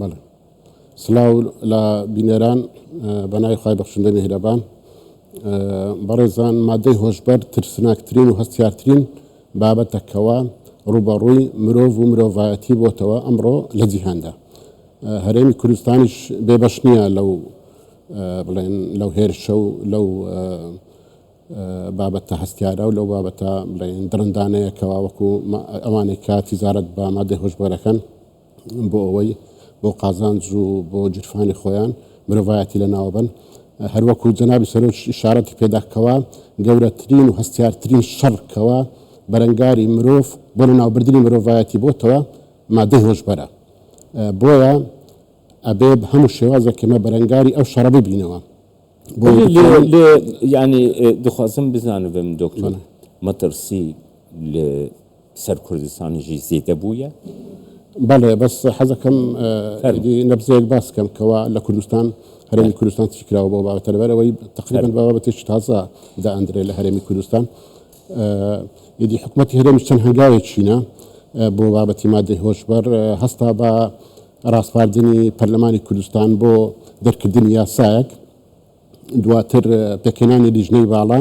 بەڵێ سڵاو لە بینەران بەناوی خی بەخشندە میهرەبان بەڕێزان مادەی هۆشبەر ترسناکترین و هەستیارترین بابەتە کەوا ڕوبەڕووی مرۆڤ و مرۆڤایەتی بۆتەوە ئەمڕۆ لە جیهاندا هەرێمی کوردستانیش بێبەش نییە لەو بڵێن لەو هێرشە و لەو بابەتە هەستیارە و لەو بابەتە بڵێن درندانەیە کەوا وەکو ئەوانەی کە تیزارەت بە مادەی هۆشبەرەکەن بۆ ئەوەی بۆ قازانج و بۆ گیرفانی خۆیان مرۆڤایەتی لەناوبەن هەروەکو جەنابی سەرۆک شارەتی پێدا کەوا گەورەترین و هەستیارترین شەڕ کەوا بەرەنگاری مرۆڤ بۆ لەناوبردنی مرۆڤایەتی بۆتەوە مادەی هۆشبەرە بۆیە ئەبێ هەموو شێوازێک ئێمە بەرەنگاری ئەو شەڕە ببینەوە لێ یعنی دخوازم بزانم دکتۆر مەترسی لە سەر کوردستانیشی زیدە بویە. بەڵێ بەس حەزەکەم ئیدی نەبزەیەک باس کەم کەوا لە کوردستان هەرێمی کوردستان چی کراوە بەو بابەتە لەبەر ئەوەی تەقریبەن بە بابەتێکی تازە دائەندرێ لە هەرێمی کوردستان ئیدی حکومەتی هەرێمیش چەند هەنگاوێک چینە بۆ بابەتی مادەی هۆشبەر هەستا بە راسپاردنی پەرلەمانی کوردستان بۆ دەرکردنی یاسایەک دواتر پێکهێنانی لیژنەی باڵا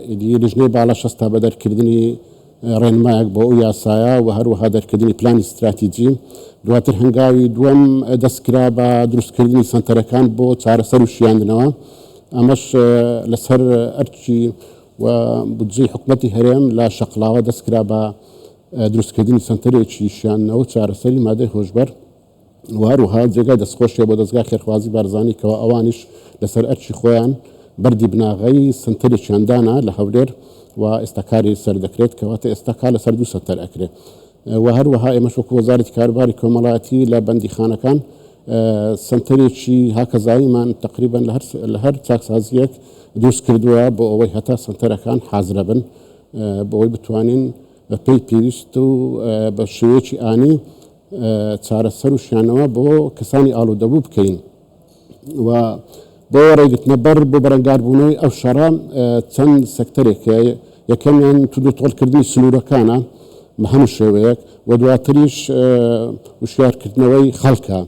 ئیدی لیژنەی باڵا شەستا بە دەرکردنی ڕێنمایەک بۆ ئەو یاسایە و هەروەها دەرکردنی پلانی ستراتیجی دواتر هەنگاوی دووەم دەستکرا بە دروستکردنی سەنتەرەکان بۆ چارەسەر و شیاندنەوە ئەمەش لەسەر ئەرچی و بودجەی حکومەتی هەرێم لە شەقڵاوە دەستکرا بە دروستکردنی سەنتەرێکی شیاندنەوە و چارەسەری مادەی هۆشبەر و هەروەها جێگای دەستخۆشیە بۆ دەزگای خێرخوازی بارزانی کەوا ئەوانیش لەسەر ئەرکی خۆیان بەردی بناغەی سەنتەرێکیان دانا لە هەولێر و ئێستا کاری سەر دەکرێت کەواتە ئێستا کار لەسەر دوو سەنتەر ئەکرێ و هەروەها ئێمەش وەکو وەزارەتی کاروباری کۆمەڵایەتی لە بەندیخانەکان سنتەرێکی هاکەزاییمان تقریبان لە هەر چاکسازیەک دروست کردووە بۆ ئەوەی هەتا سنتەرەکان حازرە بن بۆی بتوانین بە پێی پێویست و بە شێوەیەکی ئانی چارەسەر و شانەوە بۆ کەسانی ئاڵودەبوو بکەین و بۆ ڕێگرتنە بەر بۆ بەرەنگاربوونەوەی ئەو شەڕە چەند سەکتەرێک هەیە یەکەمیان تودو تۆڵکردنی سنوورەکانە بە هەموو شێوەیەک و دواتریش وشارکردنەوەی خەڵکە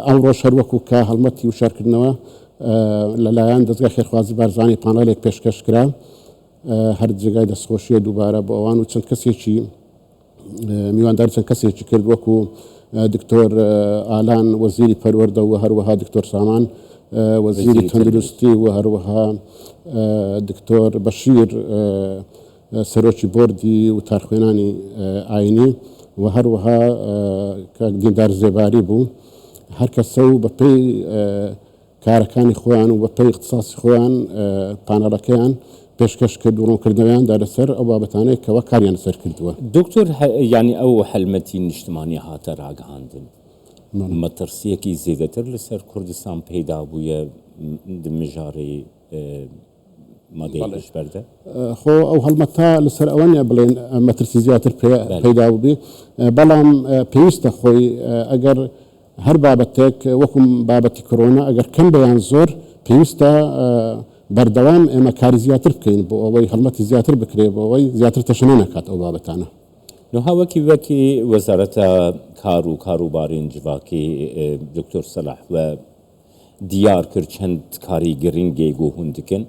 ئەو ڕۆژ هەروەکو کە هەڵمەتی وشارکردنەوە لەلایەن دەستگای خێرخوازی بارزانانی پانەڵێک پێشکەش کرا هەر جێگای دەستخۆشیە دووبارە بۆ ئەوان و چەند کەسێکی میوانداری چەند کەسێکی کرد وەکو دکتۆر ئالان وەزیری پەروەردە و هەروەها دکتۆر سامان وەزیری تەندروستی و هەروەها دکتۆر بەشیر سەرۆکی بۆردی و تارخوێنانی ئاینی و هەروەها کاک دیندار زێباری بوو هەر کەسە و بەپێی کارەکانی خۆیان و بە پێی اختصاصی خۆیان پانێڵەکەیان پێشکەش کرد و ڕوونکردنەوەیان دا لەسەر ئەو بابەتانەی کەوا کاریان لەسەر کردووە. دوکتور یانی ئەو هەلمەتی نیشتمانی هاتە ڕاگهاندن مەتڕسییەکی زێدەتر لەسەر کوردستان پەیدا بوویە دمژاڕی مەگەی پشت پەردە. خۆ ئەو هەڵمەتە لەسەر ئەوە نیە بڵێن مەترسی زیاتر پەیدا بووبێ، بەڵام پێویستە خۆی ئەگەر هەر بابەتێک وەکو بابەتی کرۆنا ئەگەر کەم بێ یان زۆر پێویستە بەردەوام ئێمە کاری زیاتر بکەین بۆ ئەوەی هەڵمەتی زیاتر بکرێ بۆ ئەوەی زیاتر تەشەنە نەکات ئەو بابەتانە. نها وەکی وەکی وەزارەتە کار و کاروبارین جڤاکی دکتۆر سەلاح و، دیار کرد چەند کاری گرنگێگ و هوند کن.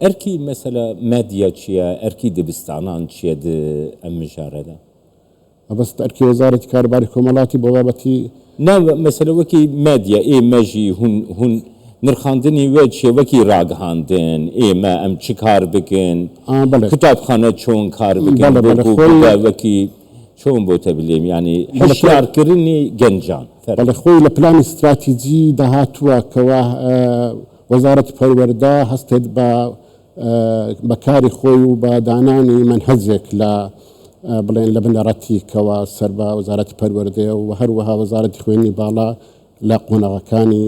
ئەرکی مەسەلە مادیە چیە؟ ئەرکی دبستانان چیە د ئەم مژارە دا؟ مەبەست ئەرکی وەزارەتی کاروباری کۆمەڵاتی بۆ بابەتی. نا مەسەلە وەکی مادیە ئێ مە ژی هون هون نرخاندنی وە چیە وەکی راگهاندن ئێ مە ئەم چ کار بکن؟ کتابخانە چۆن کار بکن؟ بۆ بوو بە وەکی. چۆن بۆتە بلێم یانی هەشارکردنی گەنجان بەڵێ خۆی لە پلانی ستراتیجی داهاتووە کەوا وەزارەتی پەروەردە هەستێت بە بەکاری خۆی و بە دانانی منهەجێک لە بڵێن لە بنەڕەتی کەوا سەر بە وەزارەتی پەروەردەیە و هەروەها وەزارەتی خوێنی باڵا لە قۆنەغەکانی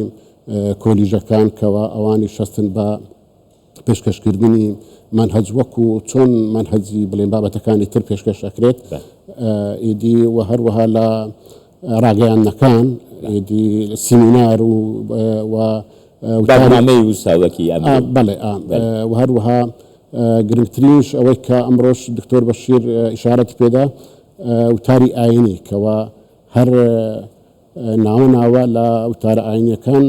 کۆلیژەکان کەوا ئەوانی شەستن بە پێشکەشکردنی مەنهەج وەکو چۆن مەنهەجی بڵێن بابەتەکانی تر پێشکەش ئەکرێت ئیدی و هەروەها لە ڕاگەیاندنەکان ئیدی سیمینار و و بەرنامەی وساوەکی بەڵێ و هەروەها گرنگترینش ئەوەی کە ئەمڕۆش دکتۆر بەشیر ئشارەت پێدا وتاری ئاینی کەوا هەر ناوە ناوە لە وتارە ئاینیەکان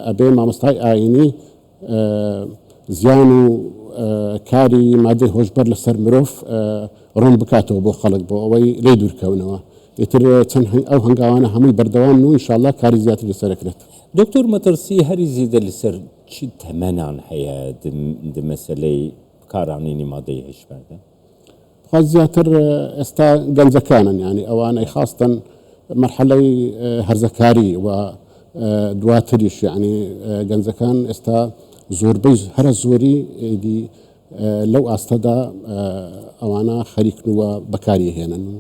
ئەبێ مامۆستای ئاینی زیان و کاری مادەی هۆشبەر لەسەر مرۆڤ ڕوون بکاتەوە بۆ خەڵک بۆ ئەوەی لێ دوورکەونەوە ئیتر چەند ئەو هەنگاوانە هەمووی بەردەوام و انشاءاللە کاری زیاتر لەسەرەکرێت. دکتۆر مەترسی هەری زیدە لەسەر چ تەمەنان هەیە دمەسەلەی بکارانینی مادەی هشبەردە؟ بخوات زیاتر ئێستا گەنجەکانن یعنی ئەوانەی خاستەن مەرحەلەی هەرزەکاری و دواتریش یعنی گەنجەکان ئێستا زۆربەی هەرە زۆری ئیدی لەو ئاستەدا ئەوانە خەریکن و بەکاری هێنن و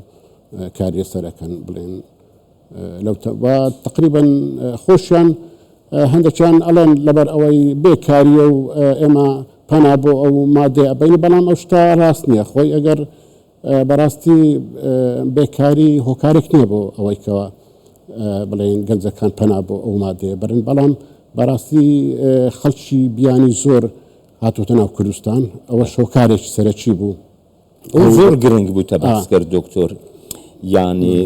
کاریێ سەرەکەن بڵێن لەو و تقریبن خۆشیان هەندێکیان ئەڵێن لەبەر ئەوەی بێکاریە و ئێمە پەنا بۆ ئەو مادێ ئەبین بەڵام ئەو شتا ڕاست نییە خۆی ئەگەر بەڕاستی بێکاری هۆکارێک نییە بۆ ئەوەیکەوە بڵێن گەنجەکان پەنا بۆ ئەو مادێ برن بەڵام بەڕاستی خەڵکی بیانی زۆر هاتوتە ناو کوردستان ئەوە شۆکارێکی سەرەکی بوو زۆر گرنگ بوو تە باسکرد دکتۆر یانی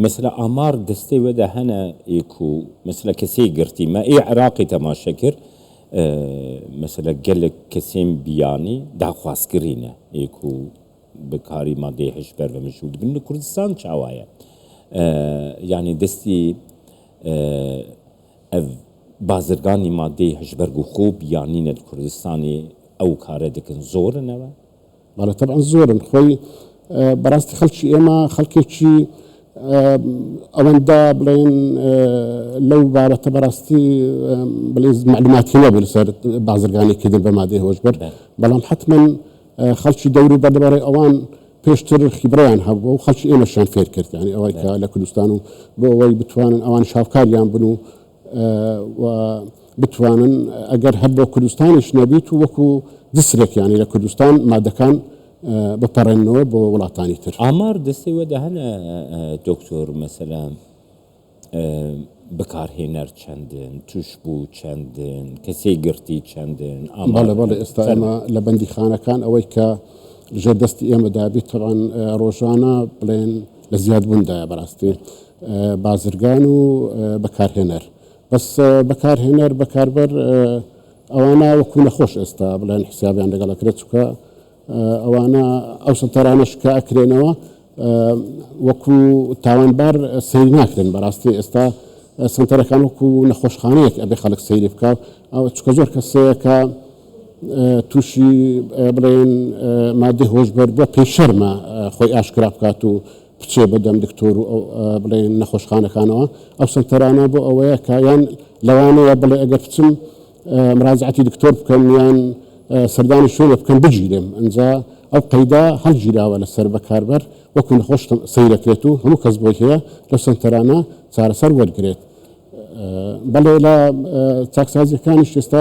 مثلە ئامار دەستێ وەدا هەنە ئێک و مثلە کەسێ گرتی مە ئێ عراقی تەماشە کرد مثلە گەلک کەسێن بیانی داخوازکرینە ئێک و بکاری مادەی هەش بەر بە مشود بن لە کوردستان چاوایە یانی دەستی ئەڤ بازرگانی مادەی هەش بەرگ و خوب یانی نەد کوردستانی ئەو کارە دکن زۆرنەوە بەڵێ تەبعەن زۆرن خۆی بەڕاستی خەڵکی ئێمە خەڵکێکی ئەوەندە بڵێن لەو بابەتە بەڕاستی بڵێ معلوماتی نەبوو لەسەر بازرگانی کردن بە مادەی هۆشبەر بەڵام حتمما خەڵکی دەور و بەردەبارەی ئەوان پێشتر خیبڕیان هەبوو و خەڵکی ئێمەشیان فێر کرد یعنی ئەوەی کە لە کوردستان و بۆ ئەوەی بتوانن ئەوان شاوکاریان بن و و بتوانن ئەگەر هەر بۆ کوردستانیش نەبیت و وەکو جسرێک یانی لە کوردستان مادەکان بپەڕێنەوە بۆ وڵاتانی تر. ئامار دەستەی وەدا هەن دکتۆر مەسەلا بکارهێنەر چەندن توشبوو چەندن کەسەی گرتی چەندن ئاماڵە بەڵێ ئێستا ئەمە لە بەندی خانەکان ئەوەی کە ژێر دەستی ئێمە دابیت تەوان ڕۆژانە بڵێن لە زیاد بوون دایە بەراستی بازرگان و بەکارهێنەر بەس بەکارهێنەر بەکاربەر ئەوانە وەکو نەخۆش ئێستا بڵێن حسابیان لەگەڵ ئەکرێت چکە ئەوانە ئەو سەلتەرانەش کە ئەکرێنەوە وەکو تاوانبار سەیر ناکرێن بەراستی ئێستا سنتەرەکان وەکو نەخۆشخانەیەک ئەبێ خەڵک سەیری بکە ئەو چکە زۆر کەسەیەکە تووشی بڵێن مادەی هۆشبەر بووە پێی شەرمە خۆی ئاشکرا بکات و بچێ بە دەم دکتۆر و بڵێن نەخۆشخانەکانەوە ئەو سەنتەرانە بۆ ئەوەیە کە یان لەوانەیە بڵێ ئەگەر بچم مراجعاتی دکتۆر بکەم یان سەردانی شوێنە بکەم بگیرێم ئەجا ئەو قەیدا هەڵگیراوە لەسەر بەکاربەر وەکو نەخۆش سەیرەکرێت و هەموو کەس بۆی هەیە لە سنتەرانە چارەسەر وەرگێت بەڵێ لە چاکسازیەکانیش ئێستا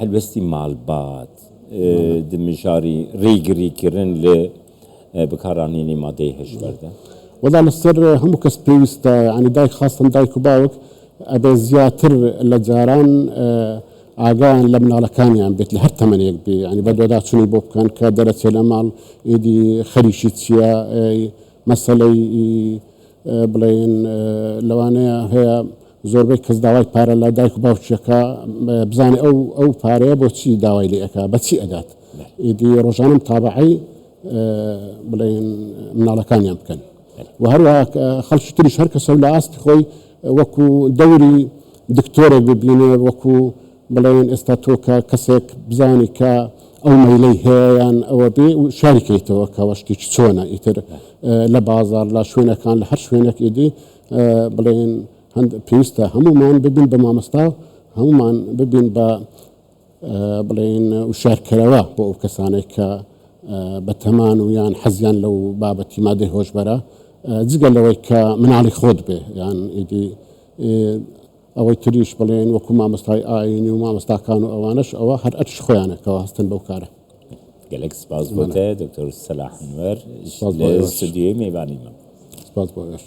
هەلوێستی مالبات، دمژاری ریگری کرن لە بکارانینی مادەی هشبەردە. وەلا لەسەر هەموو کەس پێویستە یانی دایک خاستەن دایک و باوک ئەبێ زیاتر لە جاران ئاگایان لە مناڵەکانیان بێت لە هەر تەمەنێک بێ یانی بەدواداچونی بۆ بکەن کە دەرەچێ لە ماڵ ئیدی خەریکی چیە مەسەلەی بڵێن لەوانەیە هەیە زۆربەی کەس داوای پارە لە دایک و باوکیەکە بزانێ ئەو ئەو پارەیە بۆ چی داوای لێ ئەک بە چی ئەدات ئیدی ڕۆژانم تابعی بڵێن مناڵەکانیان بکەن و هەروە خەڵکی تریش هەر کەسە لە ئاستی خۆی وەکو دەوری دکتۆرێک ببینێ وەکو بڵێن ئێستا تۆ کە کەسێک بزانی کە ئەو مەیلەی هەیەیان ئەوە بێ و شاریکەیتەوە کەەوە شتێکی چۆنە ئیتر لە بازار لە شوێنەکان لە هەر شوێنێک ئیدی بڵێن هەند پێویستە هەمومان ببین بە مامۆستا و هەمومان ببین بە بڵێن وشارکەرەوە بۆ ئەو کەسانێک کە بەتەمان و یان حەزیان لەو بابەتی مادەی هۆشبەرە جگە لەوەی کە مناڵی خۆت بێ یان ئیدی ئەوەی تریش بڵێن وەکو مامۆستای ئاینی و مامۆستاکان و ئەوانش ئەوە هەر ئەرش خۆیانەکەەوە هەستن بەو کارە گەلێک سپاس بۆتە دکتۆر سەلاحنوەر سپاس بۆ ئێوەش. سودیوی میوانیمە سپاس بۆ ئێوەش.